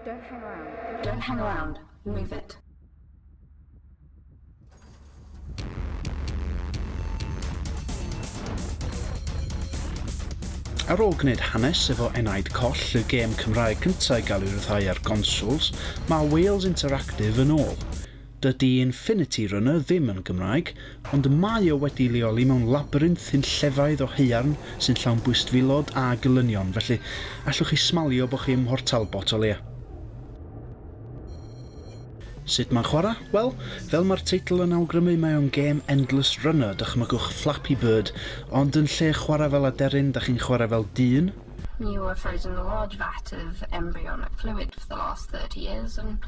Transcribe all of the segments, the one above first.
Don't hang around. Don't hang around. Move it. Ar ôl gwneud hanes efo Enaid Coll, y gêm Cymraeg cyntaf i gael ei ryddhau ar gonsols, mae Wales Interactive yn ôl. Dydy Infinity Runner ddim yn Gymraeg, ond mae o wedi'i leoli mewn labyrinth hunllefaidd o haearn sy'n llawn bwystfilod a gelynion, felly allwch chi smalio bod chi ym Mhort Talbot o leia. Sut mae'n chwarae? Wel, fel mae'r teitl yn awgrymu mae o'n gêm Endless Runner, dychmygwch Flappy Bird, ond yn lle chwarae fel aderyn, da chi'n chwarae fel dyn. You were frozen a large vat of embryonic fluid for the last 30 years and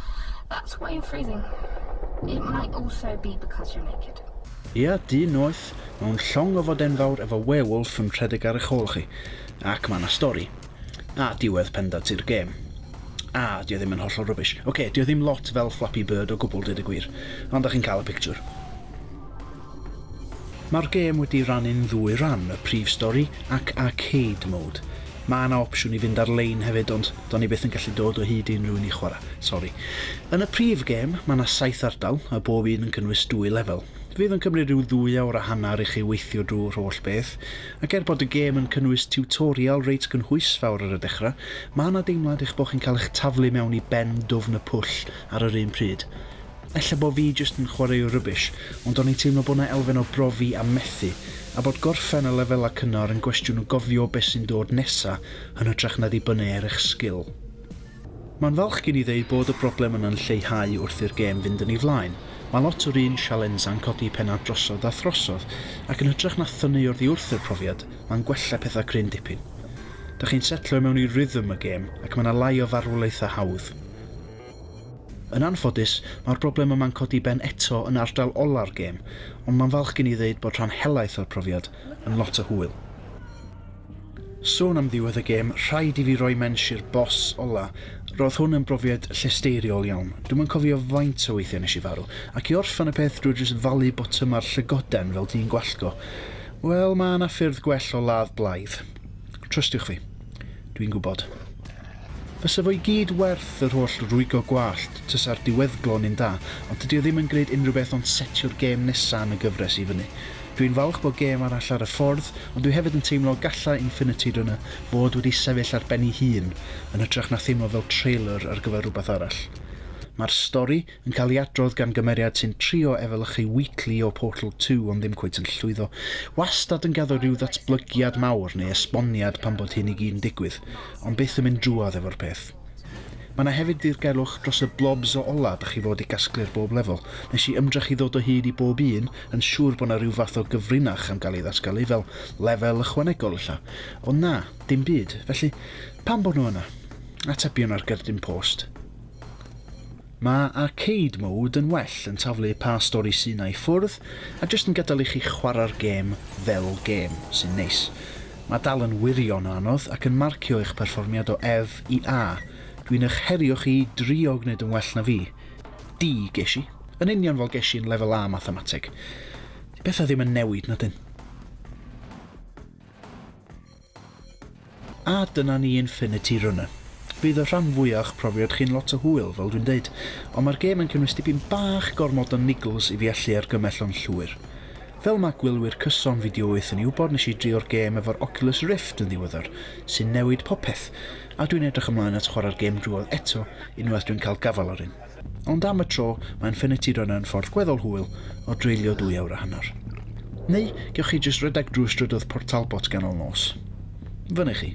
that's why you're freezing. It might also be because you're naked. Ia, dyn noeth, mewn llong ofod enfawr efo werewolf yn rhedeg ar eich ôl chi. Ac mae yna stori. A diwedd pendant i'r gêm. A, dio ddim yn hollol rubbish. Ocê, dio ddim lot fel Flappy Bird o gwbl deud y gwir. Ond dach chi'n cael y pictiwr. Mae'r gêm wedi rannu'n ddwy ran, y prif stori ac arcade mode. Mae 'na opsiwn i fynd ar lein hefyd ond do'n i byth yn gallu dod o hyd i unrhyw un i chwarae, sori. Yn y prif gêm, mae 'na saith ardal, a bob un yn cynnwys dwy lefel. Fydd yn cymryd rhyw ddwy awr a hanner i chi weithio drwy'r holl beth, ac er bod y gêm yn cynnwys tiwtorial reit gynhwysfawr ar y dechrau, mae 'na deimlad eich bod chi'n cael eich taflu mewn i ben dwfn y pwll ar yr un pryd. Ella bo fi jyst yn chwareu rubbish, ond o'n i'n teimlo bo 'na elfen o brofi a methu, a bod gorffen y lefela cynnar yn gwestiwn o gofio be sy'n dod nesa yn hytrach na dibynnu ar eich sgil. Ma'n falch gen i ddeud bod y broblem yna'n lleihau wrth i'r gêm fynd yn ei flaen, ma' lot o'r un sialensa'n codi penna drosodd a throsodd, ac yn hytrach na thynnu oddi wrth yr profiad, ma'n gwella petha cryn dipyn. Dach chi'n setlo i mewn i rhythm y gêm, ac ma' 'na lai o farwolaetha hawdd. Yn anffodus, mae'r broblem yma'n codi ben eto yn ardal ola'r gêm, ond mae'n falch gen i ddeud bod rhan helaeth o'r profiad yn lot o hwyl. Sôn am ddiwedd y gêm, rhaid i fi roi mensh i'r boss ola, roedd hwn yn brofiad llesteiriol iawn, dwi'm yn cofio faint o weithiau nes i farw, ac i orffen y peth drwy jyst falu botyma'r llygoden fel dyn gwallgo. Wel, mae 'na ffyrdd gwell o ladd blaidd. Trystiwch fi. Dwi'n gwybod. Bysa fo i gyd werth yr holl rwygo gwallt tasa'r diweddglo yn un da, ond dydi o ddim yn gneud unrhyw beth ond setio'r gêm nesa yn y gyfres i fyny. Dw i'n falch bo gêm arall ar y ffordd, ond dwi hefyd yn teimlo galla Infinity Runner fod wedi sefyll ar ben i hun yn hytrach na theimlo fel trailer ar gyfer rwbath arall. Ma'r stori, Yn cael ei adrodd gan gymeriad sy'n trio efelychu Wheatley o Portal Two ond ddim cweit yn llwyddo. Wastad yn gaddo rhyw ddatblygiad mawr neu esboniad pan bod hyn i gyd yn digwydd, ond byth yn mynd drwodd efo'r peth. Mae 'na hefyd ddirgelwch dros y blobs o ola dach chi fod i gasglu ar bob lefel. Nes i ymdrech i ddod o hyd i bob un, yn siŵr bod 'na ryw fath o gyfrinach am gael ei ddatgelu fel lefel ychwanegol ella. Ond na, dim byd. Felly, pam bod nhw yna? Atebion ar gerdyn post. Mae Arcade Mode yn well yn taflu pa stori sy 'na i ffwrdd a jyst yn gadael i chi chwarae'r gêm fel gêm, sy'n neis. Mae dal yn wirion o anodd ac yn marcio eich perfformiad o Ef i A. Dwi'n eich herio chi i drio gwneud yn well na fi. D, Ges i. Yn union fel ges i yn Lefel A Mathemateg. 'Di pethau ddim yn newid, na 'dyn? A dyna ni Infinity Runner. Fydd y rhan fwya o'ch profiad chi'n lot o hwyl, fel dwi'n deud, ond mae'r gêm yn cynnwys dipyn bach gormod o niggles i fi allu argymell o'n llwyr. Fel ma' gwylwyr cyson Fideo Wyth yn ei wybod nes i drio'r gêm efo'r Oculus Rift yn ddiweddar, sy'n newid popeth, a dwi'n edrych ymlaen at chwarae'r gêm drwodd eto unwaith dwi'n cael gafael ar un. Ond am y tro, mae Infinity Runner yn ffordd gweddol hwyl o dreulio dwy awr a hanner. Neu, gewch chi jyst rhedeg drwy strydoedd Port Talbot ganol nos. Fyny chi.